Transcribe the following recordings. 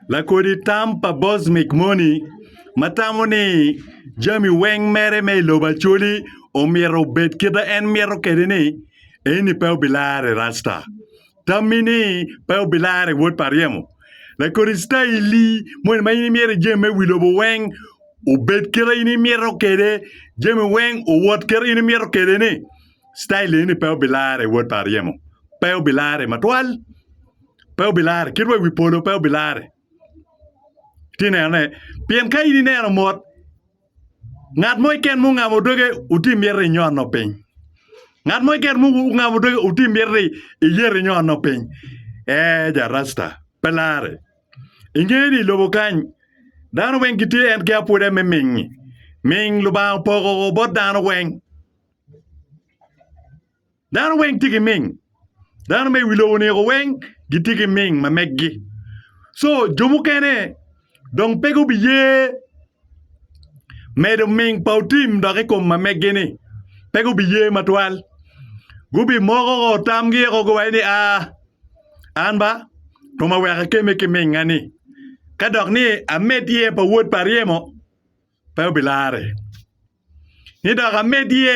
Lakodi tam pa Bosmic moni ma tamo ni jami weng mere me i lobo Acholi omyero obed kit ma en mito kwede ni, eni pe obilar i Rasta. Tammi ni pe obilar i wod pa ryemo. Lakodi citaili moni ma in imyero ijemi me wi lobo weng obed kit ma in imito kwede, jami weng owot kit ma in imito kwede ni, citail eni pe obilar i wod pa ryemo. Pe obilar-ri matwal. pe obilarre, kit wa i wi polo pe obilarre. Ti nenone, pien ka in ineno mot, ngat mo iken mo ngamo doge uti myero ni inyono piny. Ngat mo iken mo ngamo doge uti myero ni iyero inyono piny. Ee, ja rasta, pe larre. Ingeyo ni i lobo kany, dano weng gitye en ki apwode me ming-ngi. Ming Lubanga opoko bot dano weng. Dano weng tye ki ming. Dano me i wi lobo niko weng gitye ki ming ma meggi. So jo mukene dong pe gubiye medo ming pa otim dok i kom ma meggi-ni. Pe gubiye matwal. Gubimoko ko tamgi eko giwaco ni, aa, an ba twoma wek akemme ki minga-ni. Ka dok ni amed iye pa wod pa ryemo, pe obilarre. Ni dok amed iye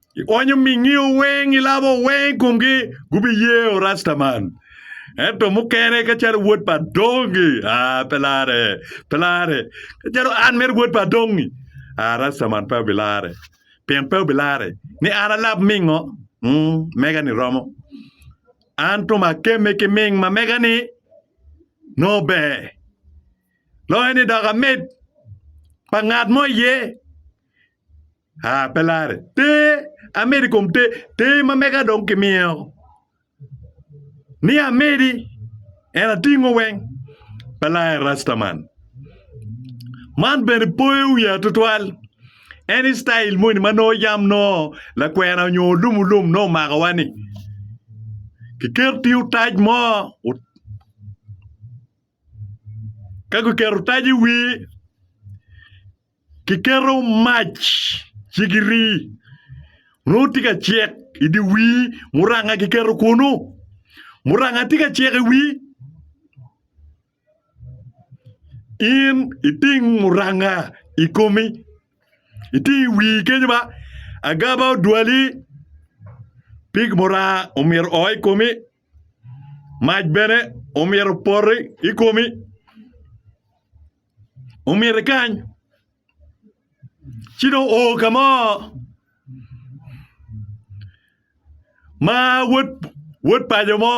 Ionyo mingiyo weng, ilabo weng i komgi, gubiyeo rasta man. Ento mukene kacalo wod pa adongi, ah, pe lare, pe lare. Kacalo an mere wod pa adongi, ah, rasta man pe obilare. Pien pe obilare ni an alab mingo, mm, mega-ni romo. An tum akemme ki ming ma mega-ni nongo ber. Loyo ni dok amed pa ngat mo iye. Aa, pe larre. Ter, amedi i kom ter, ter ma mega dong kimyeo. Ni amedi, en atingo weng. Pe larre Rastaman. Man bene poyo wiya tutwal. En i style moni ma nongo yam nongo lakwena nyo olum olum nongo omakowa ni kiketi otac mo, ka guketo otac i wii Kiketo mac cigiri nongo tye ka cek i dye wii muranga kiketo kunu muranga tye ka cek i wii in iting muranga i komi iting i wii kenyo ma agaba odwali pig muranga omyero oo i komi. Mac bene omyero opoti i komi, omyero ikany ci dong o ka mo ma wod paco mo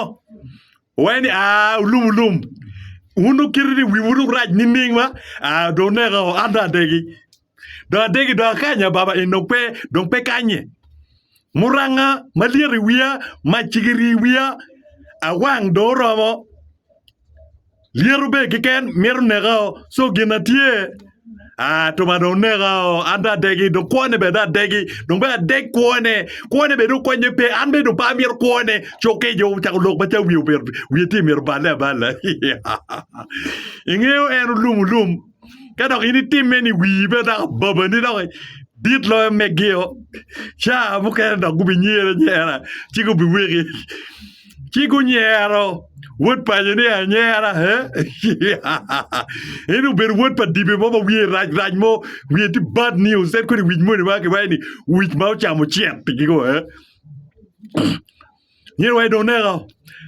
owaco ni aa olum olum wun dong kite ni wiwu dong rac nining ma dong oneko an dong adegi. Dong adegi dong akanya baba en dong pe dong pe kanye. Muranga malyet i wiya mac ci giri i wiya awang dong oromo. Lyeto be keken mito nekao so gin na tye Ah, tuma dong neka o, an dong adegi, dong kwone bene dong adegi, dong bene adeg kwone, kwone bene dong konye pe, an bene dong pe amito kwone, cokke jo ocako lok macalo wiye omyero wiye tye myero oballe aballa. Ingeyo en olum olum. ka dok in itime ni wii bene dok ababani dok dit loyo megio ca mukene dok gubinyere anyera ci gubiweki ci gunyero wod paco ni anyera en obedo wod pa dibe mo ma wiye rac rac mo wiye tye bad news en kodi wic moni ma kiwaco ni wic ma ocamo cente gigo Nyen wa idong neka.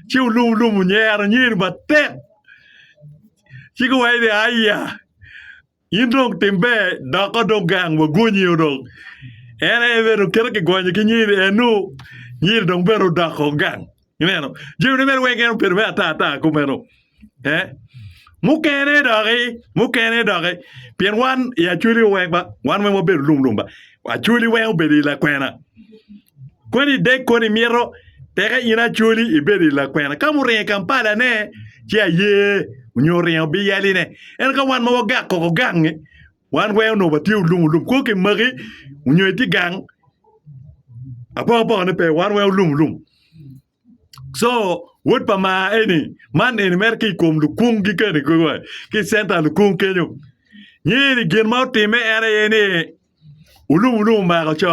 Ci olum olum onyero nyer matek. Ci ki wa ni aya. In dong tim ber dok dong gang wa gonyi dong. En en bene okete ki gonye ki nyiri en nu nyiri dong bene odoko gang. Ineno? Jami ne mere weng en obedo me ata ata kumeno. Mukene doki mukene doki pien wan i Acholi weng ba wan weng wabedo lum lum ba Acholi weng obedo i lakwena koni ideg koni imito teke in Acholi ibedo i lakwena ka ma oringo i Kampalane ci aye nyo oringo bino yaline ento ka wan ma wagak koko gangngi wan weng onongo watye olum olum kong kimaki nyo itye gang apoko apokone pe wan weng olum olum. Co wod pa maa eni man eni mere ki ikom lukung gi kene kulu ki center lukung kenyo nyer gin ma otime en aye ni olum olum omako co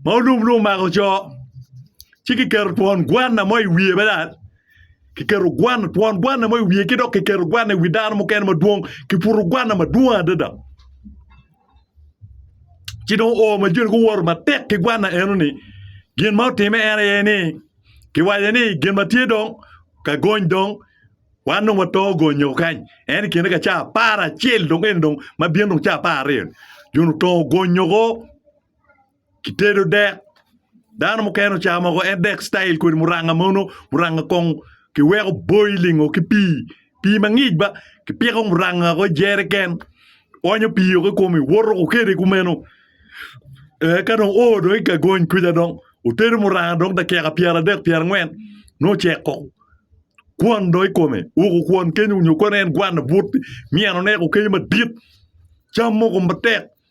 ma olum olum omako co ci ki keto twon gwana mo i wiye bene ki keto gwana twon gwana mo i wiye ki dok ki keto gwana i wi dano mukene madwong ki puto gwana madwong adada ci dong oo ma joni guwoto matek ki gwanna enoni gin ma otime en aye ni kiwaco ni gin ma tye dong ka gony dong wan dong wato gonyo kany en i kine ka cawa apar acel dong eno dong ma bino dong cawa apar aryo-ni joni oto gonyo-o Kitedo dek, dano mukene ocamo mogo en dek citayel kodi muranga mono, muranga kong kiweko boiling-o ki pii, pii mangic ba kipiko muranga-o i jeriken oonyo pii-o ki kome woto woko kwede kumeno ee ka dong oo dong i gagony kwica dong otedo muranga dong dakika pyeradek pyerangwen nongo ocek koko kwon dong i kome woko kwon kenyo nyo kono en gwanne but myero oneko kenyo madit cam mogo matek.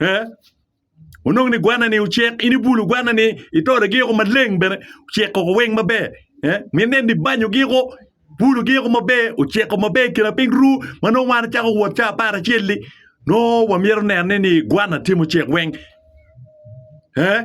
Ee, onongo ni gwanani ocek, in ibulo gwanani, itoro giko maleng bene, oceko weng maber. Eh, mine ni banyo giko, bulo giko maber, oceko maber kina piny ru, ma nongo wan acako wot ca apar acel-li, nongo wamyero nenne ni gwana tye mucek weng. Eh,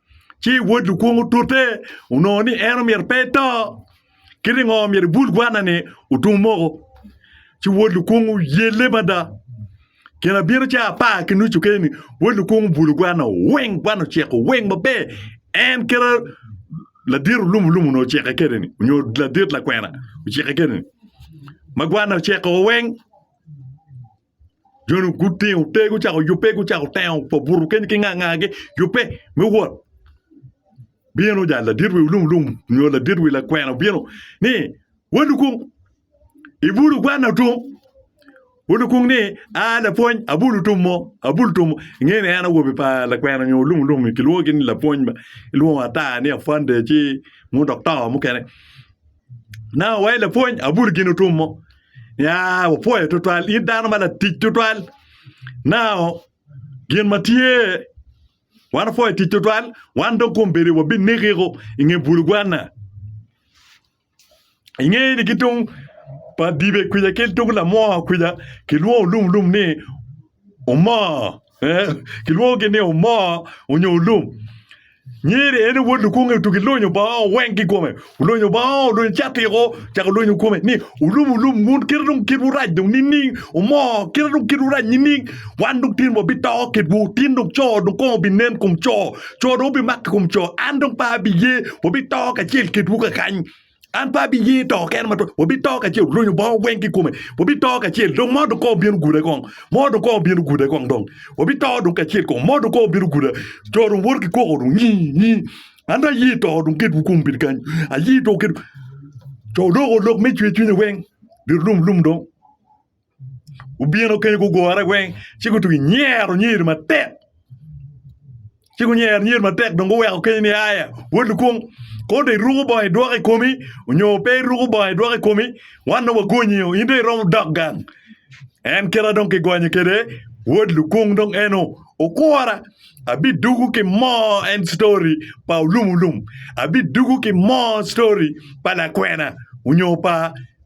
Ci wod lukwong otute, onongo ni en omyero pe eto. Kit i ngo myero ibul gwanna-ni otum moko? Ci wod lukwong oyelle mada. Gin abino ca apar ki nucu keni, wod lukwong obulu gwanna weng, gwanna oceko weng maber. En kit ladit olum olum onongo oceke kede-ni, onyo ladit lakwena oceke kede-ni, ma gwanna oceko weng. Joni ogutte, ote gucako yubbe, gucako tengo pa buto keni ki nga nga gi yubbe me wot. Bino ja ladit wi lum lum nyo ladit wi lakwena bino ni wa lukung ibulu gwana otum. Wa lukung ni a lapwony abulu tum mo, abulu tum mo. Ingeni en awobi pa lakwena nyo lum lum kilwongo ni lapwony ba. Ilwongo ata ni afande ci mu doktor mukene. Ineno wa i lapwony abuto gin otum mo ya wapwoyo tutwal in dano ma latic tutwal nao gin ma tye wan wapwoyo tic tutwal wan dong kombeddi wabinekiko i nge bulugwana inge ni ki tung pa dibe kwija ki tung lamwonya kwija kilwongo lumlum ni omoo. Kilwongogi ni omoo onyo olum. Nyiri en aye wod lukunge otugi lonyo bongo weng ki kome. Olonyo bongo, olonyo catiko, ocako lonyo kome ni olum olum wun kite dong kitwu rac dong nining? Omoo kite dong kitwu rac nining? Wan dong tin wabito kitwu, tin dong co dong kong obinen kom co, co dong obimak i kom co. An dong pe abiye, wabito kacel kitwu kakany. An pe abiye to kene ma twak, wabito kacel, olunyo bongo weng ki i kome, wabito kacel, dong modo kong obin oguda kong, modo kong obin oguda kong dong, wabito dong kacel kong, modo kong obin oguda, jo dong woto ki kwoko dong nyi, nyi, an dong aye to dong ket wukum bedi kany, aye to ket, co loko lok me cwer cwinyo weng, liro lum lum dong. Gubino kenyo gugure weng ci gutugo nyero nyer matek ci gunyero nyer matek dong guweko kenyo ni aya wod lukung kong dong iruku bongo idwoko i komi onyo pe iruku bongo idwoko i komi wan dong wagonyi o in dong iromo dok gang en kite dong kigonye kede wod lukung dong en o okura abiduku ki moo en story pa olum olum abiduku ki moo story pa lakwena onyo pa